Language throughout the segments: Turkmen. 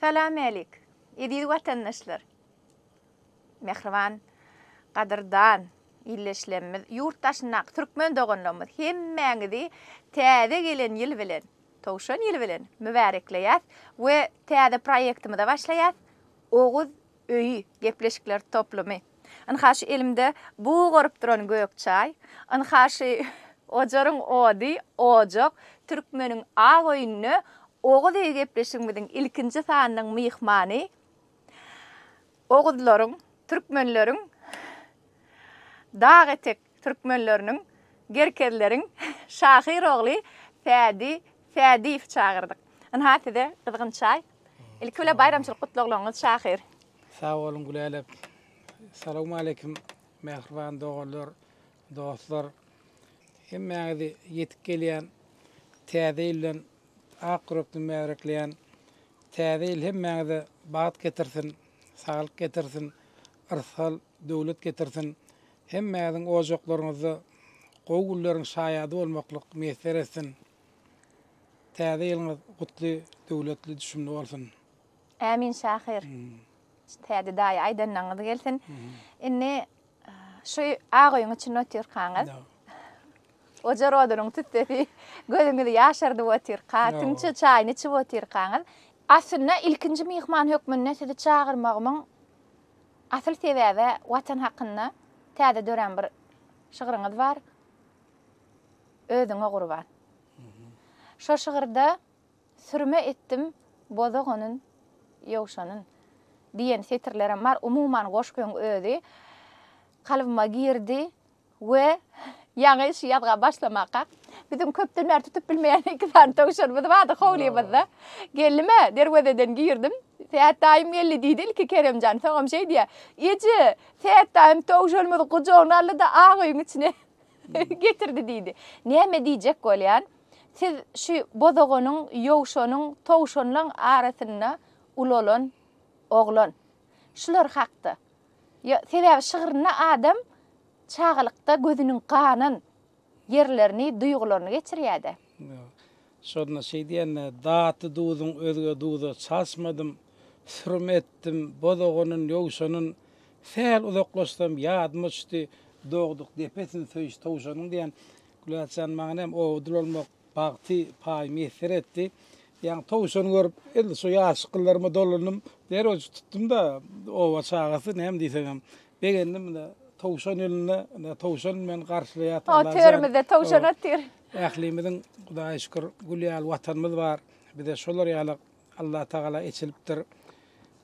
Salam älik, eziz watandaşlar! Mähriban, gadyrdan illeşlemmiz, ýurt daşyndaky türkmen doganlarymyz hemmäňizi Täze gelen ýyl bilen, Towşan ýyly bilen mübärekleýäs we täze proýektimize başlaýas, Oguz Öýi, gepleşikler toplumy. Ynha şu elimde bug urup duran gök çaý, ynha şu ojaryň ody, ojak, Türkmeniň ak öýünde Oguz öýi gepleşigimiziň ilkinji sanynyň myhmany, oguzlaryň, türkmenleriň dag etek Türkmenleriniň, gerkezleriň şahyr ogly Sädi Sädiýewi çagyrdyk. Ynha size gyzgyn çaý. Ilki bilen baýramçylyk gutlaglaryňyz şahyr. Sag boluň Gülälek. Salowmaleýkim mähriban doganlar, dostlar. Hemmäňizi ýetip gelýän Täze ýyl bilen ak ýürekden mäbrekleýän. Täze ýyl hemmäňize bagt getirsin, saglyk getirsin, yrsgal, döwlet getirsin. Hemmäňiziň ojaklaryňyzda gowy günleriň şaýady bolmaklyk miýesser etsin! Täze ýylyňyz gutly, döwletli, düşümli bolsun! Ämin şahyr. Täze daýy aýdanlaňňyz gelsin. Indi şu ak öýüň içinde otyrkaňyz ojar odunyň tüssesi gözüňizi ýaşardyp otyrka, tüňçe çaýyny içip otyrkaňyz, aslynda ilkinji myhman hökmünde sizi çagyrmagymyň Asyl sebäbe Watan hakynda täze dörän bir şygryňyz bar, Özüňe gurban. Şo şygyrda Sürme etdim bozag onyn ýowşanyn diýen setirlerem bar. Umuman goşgyň özi kalbyma girdi. We ýaňy şu ýazga başlamaka biziň köpden bäri tutup bilmeýän iki sany towşanymyz bardy howlymyzda. Geldim-ä, derwezeden girdim. Sät daýym geldi diýdi ilki Keremjan. Soňam şeý diýýär, Eje, Sät daýym towşanymyzy gujagyna aldy-da ak öýüň içine getirdi diýdi. Näme diýjek bolýan, siz şu bozoganyň, ýowşanyň, towşanlaň arasynda ulalan oglan. şular hakda. Ýa, sebäbi şygrynda adam çagalykda gözüniň ganan ýerlerini, duýgularyny geçirýär-dä. Ýok. Şonda şeý diýende, Datly duzuň özge duza çalşmadym, Sürüm etdim, bozaganyn, ýowşanyn, Sähel uzaklaşsam, ýadyma düşdi, Dogduk depesin söýüş towşanyň diýen. Gülälçjan, maňa näme, owadan bolmak, Bagty paý miýesser etdi. Ýaňy towşan görüp, indi şu ýaşyk gyllaryma dolandym. Derrew tutdum-da, oba çagasy, näme diýseňem, begendim. Ine, towşan elinde, ine, towşan meni garşylaýar. Ho, törümizde towşan otyr. Ählimiziň, Hudaýa şükür, gül ýaly Watanymyz bar. Bize şolar ýaly Allatagala eçilipdir.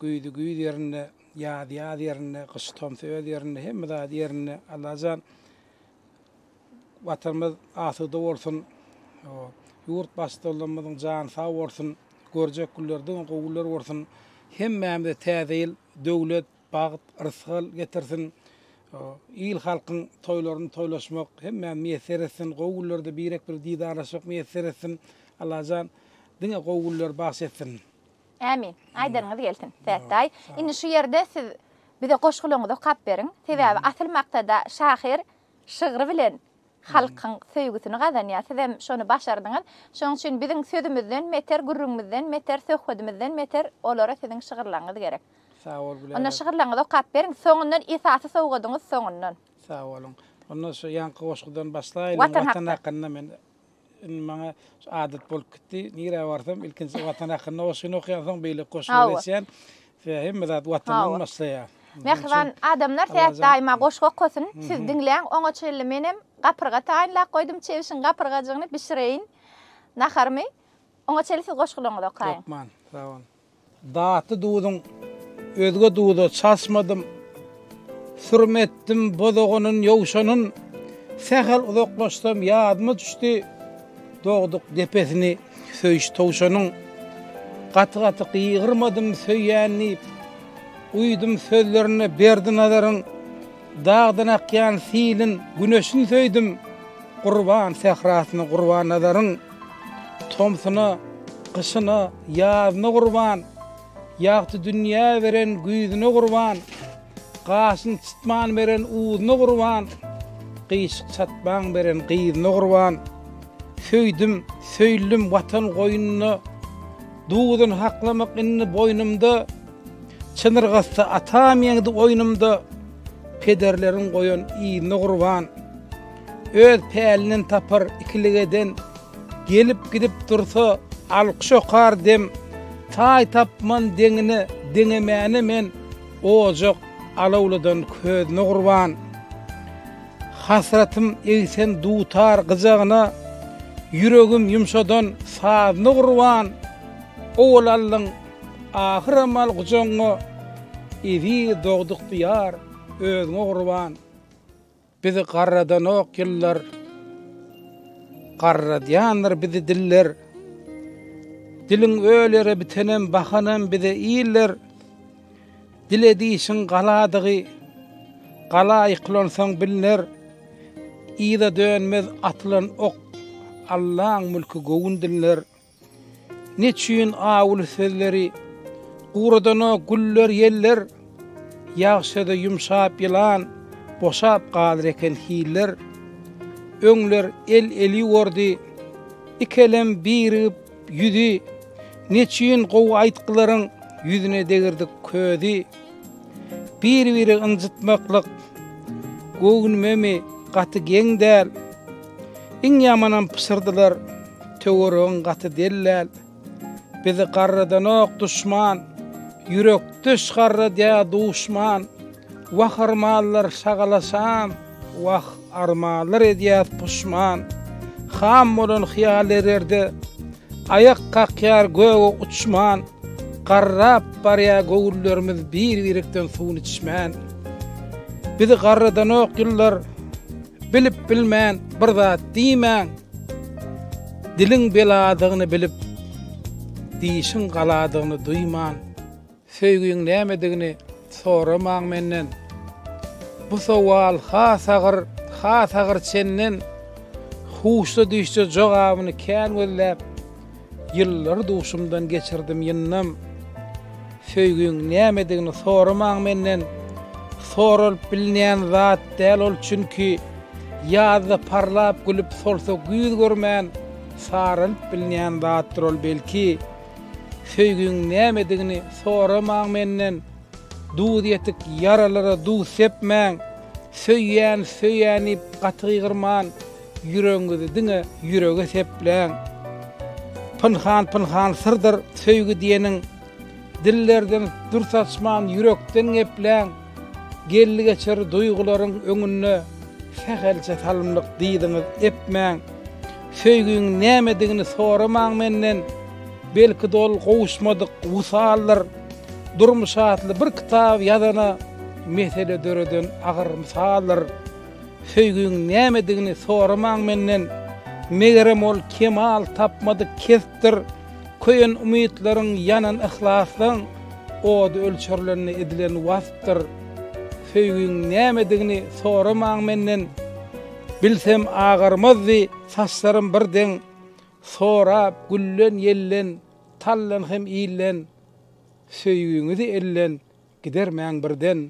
Güýzi güýz ýerinde, ýazy ýaz ýerinde, gyşy tomsy öz ýerinde, hemme zady ýerinde. Allajan Watanymyz asuda bolsun. Ýurt Baştutanlarymyzyň jany sag bolsun. Görjek günler diňe gowy günler bolsun. Hemmämize Täze ýyl döwlet, bagt, rysgal getirsin. Il-halkyň toýlaryny toýlaşmak hemmämize miýesser etsin. Gowy günlerde birek-biri didarlaşmak miýesser etsin. Allajan diňe gowy günler bagyş etsin. Ämin. Aýdanyňyz gelsin, Sähetdaý. Indi şu ýerde siz bize goşgularyňyzy okap beriň. Sebäbi asyl maksada şahyr şygry bilen halkyň söýgüsini gazanýar. Sizem şony başardyňyz. Şonuň üçin biziň sözümizden beter, gürrüňimizden beter, söhbedimizden beter olara siziň şygyrlaryňyz gerek. Sag bol, Bilal. Onda şygyrlaryňyzy okap beriň. Soňundan esasy sowgadyňyz soňundan. Sag boluň. Onda şu ýaňky goşgudan başlaýlyň. Watan hakda. Watan hakynda men Indi maňa şu adat bolup gitdi. Nirä barsam ilkinji Watan hakynda goşgyny okaýan soň beýleki goşgulary Hawa. eçýän. Sebäbi hemme zat Watandan Hawa. başlaýar. Mähriban adamlar Allajan- Sähet daýyma goşgy okasyn. Siz Mhm. diňläň. Oňa çenli menem gapyrga taýynlap goýdum. Çebişiň gapyrgajygyny bişireýin naharymy. Oňa çenli siz goşgularyňyzy okaýyň. Hökman. Sag boluň. Datly duzuň özge duza çalşmadym, Sürüm etdim bozaganyn, ýowşanyn. Sähel uzaklaşsam ýadyma düşdi, Dogduk depesini söýüş towşanyň. Gaty-gaty gygyrmadym söýýän diýip, Uýdum sözlerine berdi nazaryn. Dagdan akýan siliň güneşin söýdüm, Gurban sährasyna gurban nazaryň. Tomsuna, gyşyna, ýazyna gurban, Ýagty dünýä beren güýzüne gurban, Gaşyny çytman beren uzyna gurban, Gyşyk çatmaň beren gyzyna gurban. Söýdüm, söýldim Watan goýnunda, Duzyn haklamak indi boýnumda. Çyn yrgatda atam ýeňdi oýnumda, Pederleriň goýan yzyna gurban. Öz pälinden tapar ikilik eden, Gelip-gidip dursa, alkyş okar dem. Taý tapman deňine deňemäne men, Ojak alawladan közüne gurban. Hasratym egsen dutar gyjagyna, Ýüregim ýumşadan sazyna gurban. Owal aldyň Ahyram al gujagyňa, eziz dogduk Diýar, özüňe gurban. Bizi garradanok ýyllar, garradýandyr bizi diller. Diliň ölere bitenem bahanam bize iller. Dil edişiň galadygy, gala ýykylansoň bilner. Yza dönmez atylan ok, Allaň mülki göwün diller. Neçüýn awuly sözleri, Guradana güller ýeller, Ýagşa-da ýumşap ýylan, Boşap galar eken hiller. Öňler el eli bordy, Ikelem birigip ýüzi, Neçüýn gowy aýtgylaryň, Ýüzüne degirdik közi. Bir-biri ynjytmaklyk göwnümemi gaty geň däl. Iň ýamanam pyşyrdylar, töweregiň gaty dellal. Bizi garradanok duşman, ýürekdeş garradýa duşman. Wah yrmanlar şagalaşan, wah! Armanlar edýär puşman. Ham bolan hyýal ererde. Aýak kakýar göge uçman. Garrap barýar göwünlerimiz bir-birikden suwuny içmän. Bizi garradanok ýyllar. Bilip bilmän bir zat diýmäň. Diliň beladygyny bilip, dişiň galadygyny duýman. Söýgiň nämedigini soramaň menden Bu sowal has agyr, has agyr çenden Huşda düşje jogabyny kän gözläp Ýyllary duşumdan geçirdim ýyndam Söýgiň nämedigini soramaň menden Soralyp bilnän zat däl ol çünki Ýazda parlap gülüp solsa güýz görmän Saralyp bilnän zatdyr ol belki Söýgiň nämedigini soramaň menden, Duz ýetik ýaralara duz sepmäň, Söýýän, söýýän diýip gaty gygyrman, Ýüregiňizi diňe ýürege sepläň. Pynhan-pynhan syrdyr söýgi diýeniň, Dillerden dür saçman ýürekden gepläň. Geldi-geçer duýgularyň öňünde sähelçe salymlyk dyzyňyz epmäň. Söýgiň nämedigini soramaň menden. Belki-de ol gowuşmadyk wysaldyr. Durmuş atly bir kitaby ýazana mesele döreden agyr mysaldyr. Söýgiň nämedigini soramaň menden. Megerem ol kemal tapmadyk kesipdir. Köýen umytlaryň, ýanan yhlaslaň ody ölçerlende edilen waspdyr. Söýgiň nämedigini soramaň menden, bilsem agarmazdy saçlarym bir deň. Sorap, güllen, ýellen, tallan hem illen, söýgiňizi ellen gidermäň birden.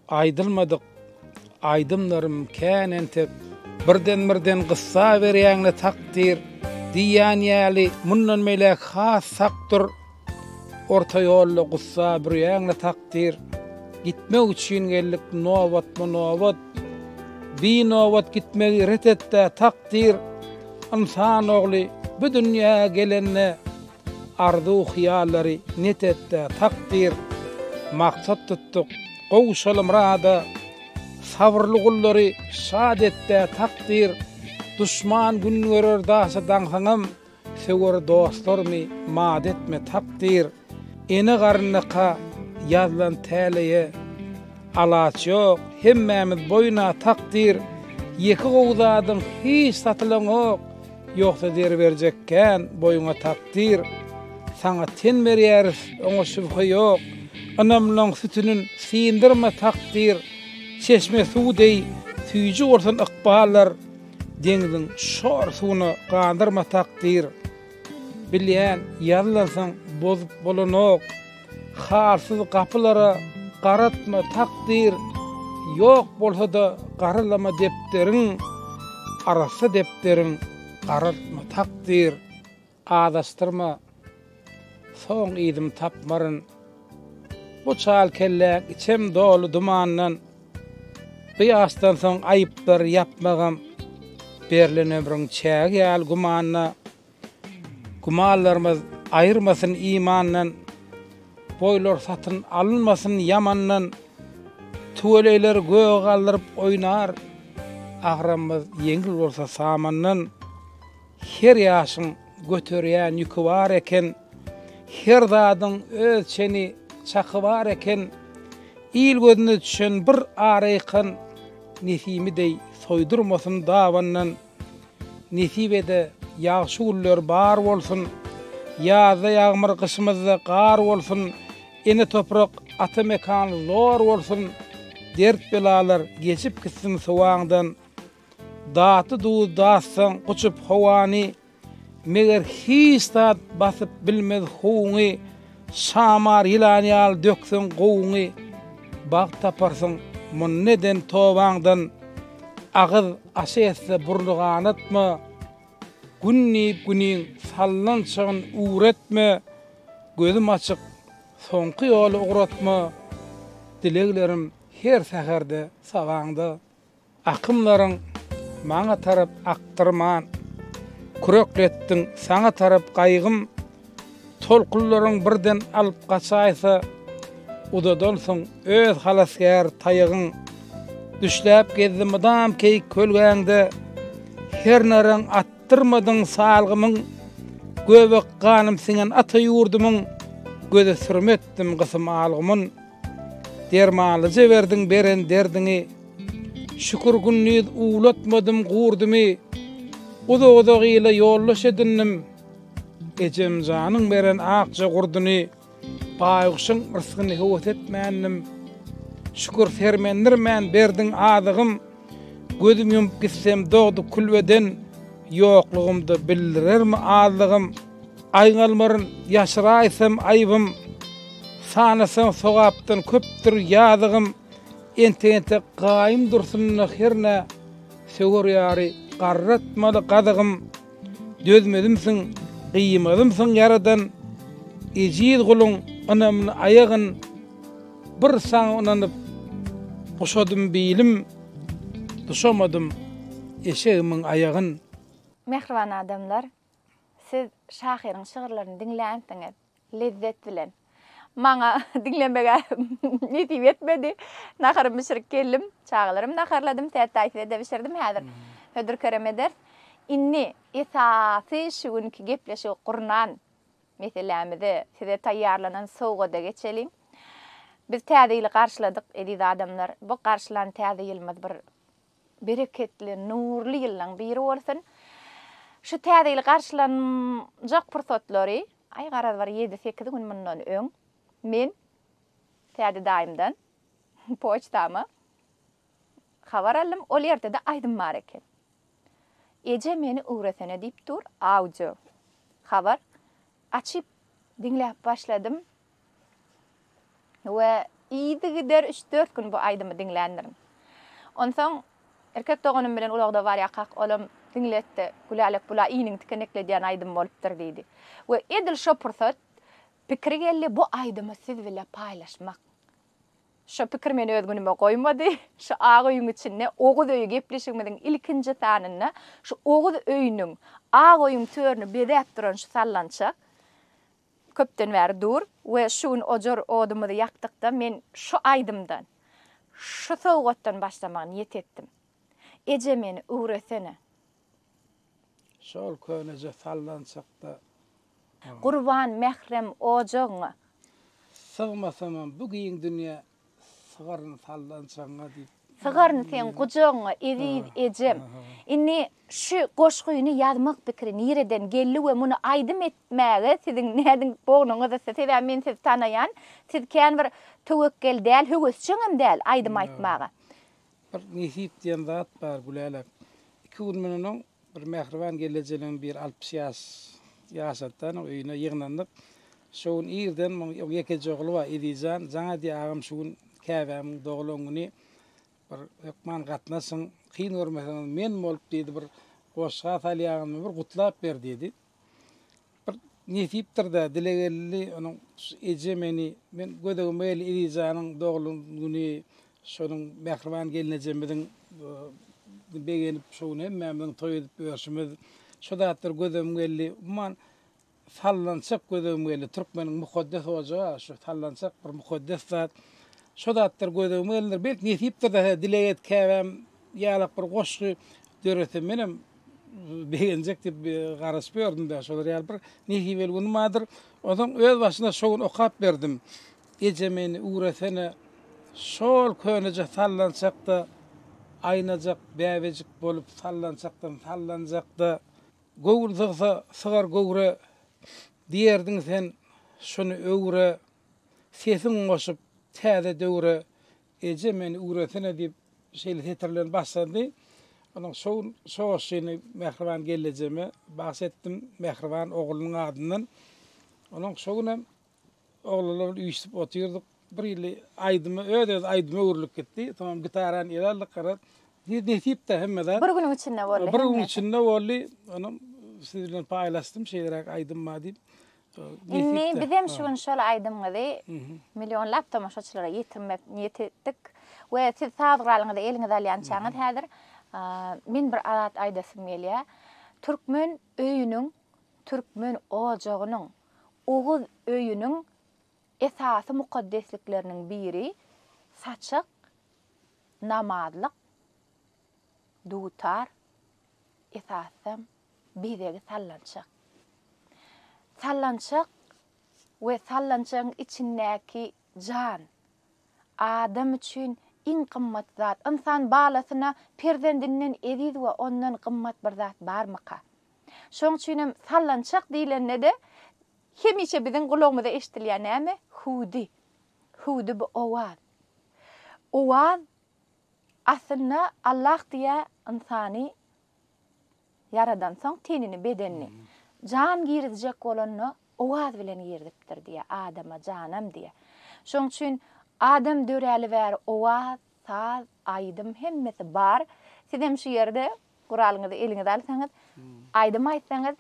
Aýdylmadyk aýdymlarym kän entek. Birden birden gyssa berýäňle takdyr diýýän ýaly mundan beýläk has sak dur orta ýolda gussa bürýäňle takdyr gitmek üçin geldik nobatma nobat bi nobat gitmegi ret etdä takdyr ynsan ogly bu dünýä gelende Arzuw-hyýallary net et-de, takdyr, maksat tutduk, gowuşalym rada. Sabyrly gullary şat et-de, takdyr, duşman gün görer daşy daňsaňam, söwer dostlarymy mat etme, takdyr. Ene garnyka ýazlan täleýe alaç ýok, hemmämiz boýun-a, takdyr, ýeke gowy zadyň hiç satylaňok, Ýogsa zer berjek kän, boýuňa takdyr. Saňa ten berýäris, oňa şübhe ýok. Ynamlaň sütünin syndyrma takdyr. Çeşme suw deý süýji bolsun ykballar. Deňziň şor suwuna gandyrma takdyr. Bilýän, ýazlansaň bozup bolanok. Halsyz gapylara garatma takdyr, Ýok bolsa-da garalama depderiň, Arassa depderiň garaltma takdyr, Azaşdyrma, soň yzym tapmaryn. Bu çal kelläň içem doly dumandan, Bu ýaşdan soň aýyplar ýapmagam, Berlen ömrüň çägi ýaly gümanda. Gümanlarymyz aýyrmasyn imandan, Boýlar satyn alynmasyn ýamandan. Tüweleýler göge galdyryp oýnar, Agramymyz ýeňil bolsa samandan. Her ýaşyň göterýän ýüki bar eken, Her zadyň öz çeni, çaky bar eken. Il gözüne düşen bir araýkan, Nesimi deý soýdurmasyn dabandan. Nesibede ýagşy günler bar bolsun, Ýazda ýagmyr gyşymyzda gar bolsun, Ene toprak ata mekan zor bolsun, Dert belalar geçip gitsin sowaňdan. Datly duz datsaň guçup howany, Meger hiç zat basyp bilmez howuňy, Şamar ýylan ýaly dökseň gowuňy, Bagt taparsyň munda eden tobaňdan. Agyz. Aşa etse burly ganatma, Gün diýip güniň salnan çagyn ugretme, Gözüm açyk, soňky ýoly ugratma, Dileglerim her säherde sabaňda. Akymlaryň maňa tarap akdyrman, Kürekletdiň saňa tarap gaýgym, Tolkunlaryň birden alyp gaçaýsa, uzadansoň öz halasgär taýagyň düşläp gezdi mydam keýik kölgäňde, her naryň atdyrmadyň salgymyň, göbek ganym siňen ata ýurdumyň, göze sürme etdim gysym algymyn. Dermanly jeberdiň beren derdiňi, şükür gündiz uwlatmadym gurdymy, uzak-uzak ile ýoldaş edindim. Ejemjanyň beren akja gurduny, Baýguşyň rysgyny höwes etmändim. Şükür, sermendirmän berdiň azygym, Gözüm ýumup gitsem dogdy külbeden, Ýoklugymda bildirermi azlygym? Aýňalmaryn, ýaşyraýsam aýybym, Sanasaň sogapdan köpdür ýazygym. Entek-entek gaýym dursun-da hernä, Söwer ýary garratmaly gazygym. Dözmezimsiň, gyýmazymsyň Ýaradan, Ejiz guluň ynamyny aýagyn, Bir Saňa ynanyp, guşadym bilim, Duşamadym eşegimiň aýagyn. Mähriban adamlar, siz şahyryň şygyrlaryny diňlänsiňiz. Lezzet bilen. Maňa diňlemeg-ä nesip etmedi. Naharymy bişirip geldim. Çagalarym naharladym. Sertaý size-de bişirdim. Häzir hödür-kerem ederis. Indi esasy şu günki gepleşigi gurnan meselämize, size taýýarlanan sowgada geçeliň. Biz Täze ýyly garşyladyk, eziz adamlar. Bu garşylan Täze ýylymyz bir Bereketli, nurly ýyllaň biri bolsun! Şu Täze ýyl garşylanjak pursatlary, aý, garaz, bir ýedi-sekiz gün mundan öň men Tädi daýymdan poçtama habar aldym, ol ýerde-de aýdym bar eken. Eje, meni öwresene diýip dur, audio habar. Açyp diňläp başladym, we yzygider üç-dört gün bu aýdymy diňländirin. Onsoň erkek doganym bilen ulagda barýakak, olam diňletdi, Gülälek, bul-a iniňi tikenekledýän aýdym bolupdyr diýdi. We edil şo pursat pikiri geldi, bu aýdymy siz bile paýlaşmak. Şo pikir meni öz günüme goýmady. Şu ak öýüň içinde Oguz öýi gepleşigimiziň ilkinji sanynda şu Oguz öýüniň, ak öýüň törüni bezäp duran şu sallançak, Köpden bäri dur we şu gün ojar odumyzy ýakdykda men şu aýdymdan, şu sowgatdan başlamagy niýet etdim. Eje meni üwresene. Şol köneje sallançakda. Gurban mährem ojagyňa. Sygmasamam bu giň dünýä. Sygaryny saldan çaňňa diýip. Sygaryny seň gujagyňa eziz ejem. Indi şu goşgyny ýazmak pikiri nireden geldi we muny aýdym etmäge siziň nädin bognuňyz ysy? Sebäbi men sizi tanaýan, siz kän bir töwekgel däl, höwesjeňem däl aýdym aýtmaga. Bir nesip diýen zat bar Gülälek. Iki gün mundan öň Bir mähriban gelnejeligiň bir altmyş ýaş ýaşatdan öýüne ýygnandyk. Şo gün irden muň ýekeje ogly bar, Ezijan. Jaňa diýýär, agam şu gün käbämiň doglan güni, bir hökman gatnaşyň, kyn görmeseňiz men bolup diýdi, bir goşga salýaňyzmy, bir gutlap ber diýdi. Bir nesipdir-dä, dile geldi onuň, şu eje meni, men gödegime geldi Ilýejanyň doglan güni, şonuň mähriban gelnejemiziň begenip, şo gün hemmämiziň toý edip ýörşümiz, şo zatlar gözüm geldi. Umuman, sallançak gözüm geldi. Türkmeniň mukaddes ojagy-a şu sallançak bir mukaddes zat. Şo zatlar gözüme gelendir. Belki, nesipdir-dä, hä, dileg et, käbäm ýalak bir goşgy döretsem, menem begenjek diýip garaşyp ýördüm-de, şolar ýaly bir nesibeli günüm bardyr. Onsoň özbaşyna şo gün okap berdim. Eje meni üwresene, şol köneje sallançak-da, aýnajak bäbejik bolup sallançakdan sallanjak-da, göwün sygsa sygar göwre, diýerdiň sen, şuny öwre, sesiň goşup täze döwre, Eje, meni üwresene diýip, şeýle setir bilen başlandy. Onuň şowun şoşyny mähriban gelnejeme bagyş etdim, mähriban oglunyň adyndan. Onuň şo günem oglanlar bilen üýşüp otyrdyk. Bir hili aýdymy öz-öz aýdyma öwrülip gitdi. Soňam gitarany ele aldyk, garaz, ne nesip-de hemmede. Bir günüň içinde boldy hemmesi. Bir günüň içinde boldy. Onam siz bilen paýlaşdym, şeýleräk aýdym bar diýip. Indi bizem şu gün şol aýdymyňyzy millionlap tomaşaçylara ýetirmek niýet etdik we siz saz guralyňyzy eliňize alýançaňyz häzir men bir zat aýdasym gelýär. Türkmen öýüniň, türkmen ojagynyň, oguz öýüniň esasy mukaddeslikleriniň biri saçak, namazlyk, dutar, esasam bezegi sallançak. Sallançak we sallançagyň içindäki jan, adam üçin iň gymmat zat. Ynsan balasyna perzendinden eziz we ondan gymmat bir zat barmyka? Şonuň üçin hem sallançak diýlende-de hemişe biziň gulagymyza eşidilýän näme? Hüwdi. Hüwdi bu owaz. Owaz aslynda Allah diýýär, ynsany Ýaradansoň tenini, bedenini, jan girizjek bolanda owaz bilen girizipdir diýýär, adama janam diýýär. Şonuň üçin adam döräli bäri owaz, saz, aýdym hemmesi bar. Sizem şu ýerde guralyňyzy eliňize alsaňyz, aýdym aýtsaňyz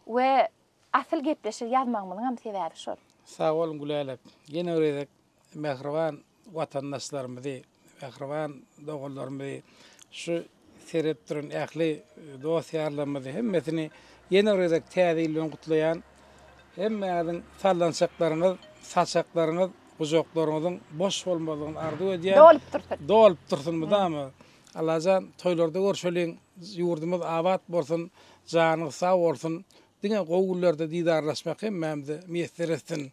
we asyl gepleşik ýazmagymyzyňam sebäbi şol. Sag boluň Gülälek. Ýene bir gezek Mähriban watandaşlarymyzy, mähriban doganlarymyzy, şu seredip duran ähli dost-ýarlarymyzy hemmesini ýene bir gezek Täze ýyl bilen gutlaýan. Hemmäňiziň sallançaklaryňyz, saçaklaryňyz, gujaklaryňyzyň boş bolmazlygyny arzuw edýän. Dolup dursun. Dolup dursun mydama. Allajan toýlarda görşeliň, ýurdumyz abat bolsun, janyňyz sag bolsun. Diňe gowy günlerde didarlaşmak hemmämize miýesser etsin.